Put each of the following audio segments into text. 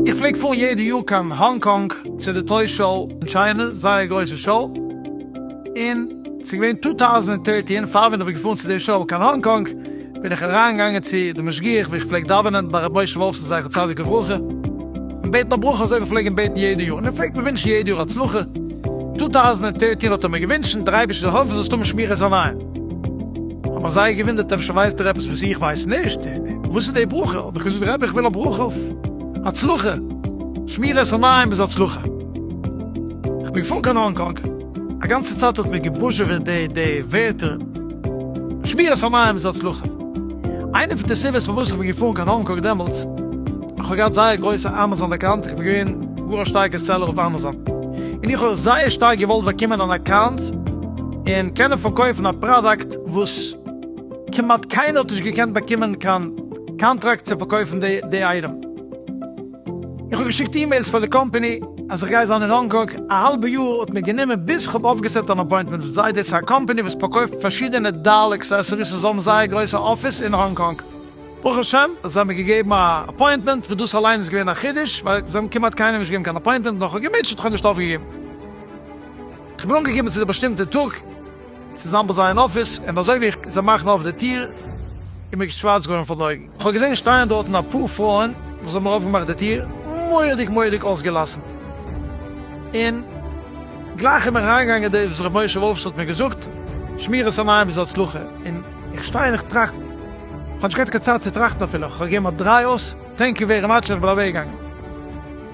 איך פלעג פארן יעדע יאר קיין האנג קאנג צו די טוי שאו אין טשיינע, זייער גרויסע שאו, און ס'איז געווען טו טאוזענד ענד דרעטין פאר ווען איך בין געפארן צו די שאו קיין האנג קאנג, בין איך אריין געגאנגען צו די משגיח ווי איך פלעג דאווענען ביי ר' משה וואלפסאן זכר צדיק לברכה און בעטן א ברכה אזוי ווי פלעג אים בעטן יעדע יאר און ער פלעגט מיר ווינטשן יעדע יאר הצלחה, טו טאוזענט און דערטין האט ער מיר געווינטשן דער אייבערשטער זאל העלפן זאלסט האבן שמירת עיניים, האט מיך זייער געווינדערט אפשר ווייסט ער עפעס וואס איך ווייס נישט, וואס איז די ברכה, האב איך געזאגט רבי איך וויל א ברכה אויף הצלחה, שמירת עיניים איז הצלחה, איך בין געפארן קיין האנג קאנג, א גאנצע צייט האט מיר געבוזשעוועט די ווערטער. שמירת המים איז הצלחה. איינע פון די סיבות פארוואס איך בין געפארן קיין האנג קאנג דעמאלטס, איך האב געהאט זייער גרויסע אמאזאן אקאונט, איך בין געווען גאר א שטארקע סעלער אויף אמאזאן, און איך האב זייער שטארק געוואלט באקומען אן אקאונט און קענען פארקויפן א פראדאקט וואס כמעט קיינער האט נישט געקענט באקומען קיין קאנטראקט צו פארקויפן די אייטעם. איך האב געשיקט אימעילס פאר די קאמפעני אז איך גיי זיין אין האנג קאנג, א האלבע יאר האט מיר גענומען ביז כ'האב אויפגעסעט אן אפוינטמענט מיט זיי, דאס איז א קאמפעני וואס פארקויפט פארשידענע דעל אקסעסעריס און זיי האבן זייער גרויסע אפיס אין האנג קאנג. ברוך השם זיי האבן מיר געגעבן א אפוינטמענט, וואס דאס אליין איז געווען א חידוש, ווייל זיי האבן כמעט קיינעם נישט געגעבן קיין אפוינטמענט, נאך כ'האב געמוטשעט האב איך נישט אויפגעגעבן, כ'בין אנגעקומען צו די באשטימטע טאג. צוזאם ביי זיי אין אפיס, און אזוי ווי איך זע מאכן אויף די טיר איז מיר שווארץ געווארן פאר די אויגן, איך האב געזען שטייען דארטן אפאר פרויען וואס האבן אויפגעמאכט די טיר מורא'דיג מורא'דיג אויסגעלאסן, און גלייך איז מיר אריינגעגאנגען דאס וואס ר' משה וואלף שליט א האט מיר געזאגט, שמירת עיניים איז הצלחה, און איך שטיי און איך טראכט, איך האב נישט געהאט קיין צייט צו טראכטן אפילו, איך האב געגעבן א דריי אויס. טענק יו ווערי מאטש איך בין אוועקגעגאנגען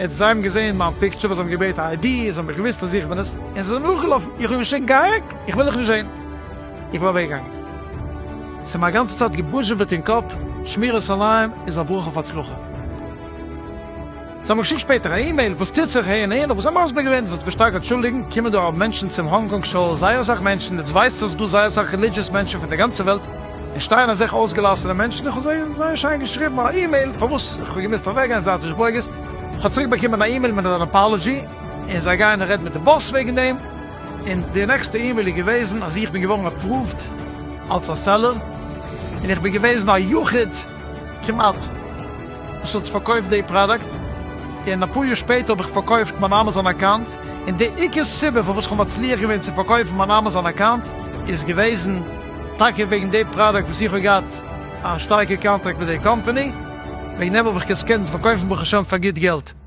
און זיי האבן געזען מיין פיקטשער וואס זיי האבן געבעטן א איידי זיי האבן מיך געוויסט אז איך בין עס און זיי זענען נאכגעלאפן איך האב געשריגן גיי אוועק איך וויל דיך נישט זען איך בין אוועקגעגאנגען ס'איז מיר א גאנצע צייט געבוזשעוועט אין קאפ שמירת עיניים איז א ברכה אויף הצלחה זיי האבן געשיקט שפעטער א אימעיל וואס טוט זיך אהין אהין האב איך זיי מסביר געווען זאלסט מיך שטארק אנטשולדיגן קומען דא ארום מענטשן צום האנג קאנג שאו זייער אסאך מענטשן און דו ווייסט אז ס'דא זייער אסאך רעלידזשעס מענטשן פון די גאנצע וועלט און שטייען אזעלכע אויסגעלאסענע מענטשן, איך האב זיי זייער שיין געשריבן א אימעיל פארוואס איך האב געמוזט אוועקגיין איז זייער שגבויגעס, איך האב צוריק באקומען א אימעיל מיט אן אפאלעזשי, און זיי גייען רעדן מיט די באס וועגן דעם, און די נעקסטע אימעיל איז געוועזן אז איך בין געווארן אפראווד אלס א סעלער, און איך בין געוועזן א יחיד. כמעט, וואס האט פארקויפט די פראדאקט, און אפאר יאר שפעטער האב איך פארקויפט מיין אמאזאן אקאונט, און די עיקר סיבה פארוואס כ'האב מצליח געווען צו פארקויפן מיין אמאזאן אקאונט איז געוועזן טאקע וועגן די פראדאקט וואס איך האב געהאט א שטארקע קאנטראקט מיט די קאמפעני, וועגן דעם האב איך עס געקענט פארקויפן ברוך השם פאר גוט געלט.